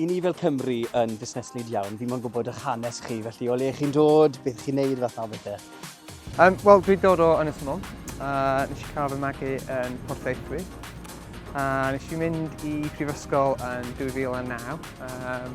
I ni fel Cymru yn busneslyd iawn, fi mo'n gwybod eich hanes chi, felly o le chi'n dod, beth chi'n neud, fath na bethau. Um, Wel, dwi'n dod o Ynys Môn, a uh, nes i cael fy magu yn Port Eithwy. A uh, nes i mynd i prifysgol yn 2009, um,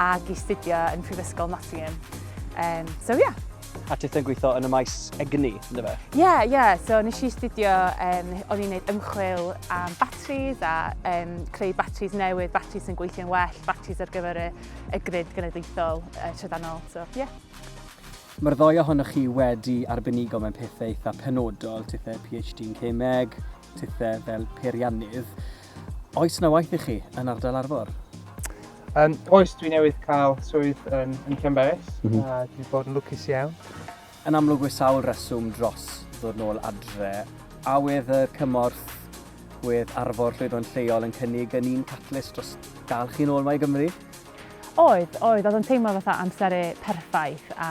ac i studio yn Prifysgol Nottingham. Um, so yeah. A ti yn gweithio yn y maes egni, ynddo fe? Ie, yeah, ie. Yeah. So nes i studio, um, o'n i'n gwneud ymchwil am batteries a um, creu batteries newydd, batteries sy'n gweithio'n well, batteries ar gyfer y, y grid genedlaethol uh, trydanol. So, ie. Yeah. Mae'r ddoi ohonoch chi wedi arbenigo mewn pethau eitha penodol, tithau PhD yn Cemeg, tithau fel peiriannydd. Oes na waith i chi yn ardal Arfor? Um, oes, dwi newydd cael swydd yn, yn Llanberis, mm -hmm. a dwi wedi bod yn lwcus iawn. Yn amlwg we sawl reswm dros ddod nôl adre, a wedd y cymorth wedd arfor llwyddo'n lleol yn cynnig yn un catalyst dros dal chi'n ôl mae i Gymru? Oedd, oedd, oedd yn teimlo fatha amseru perffaith a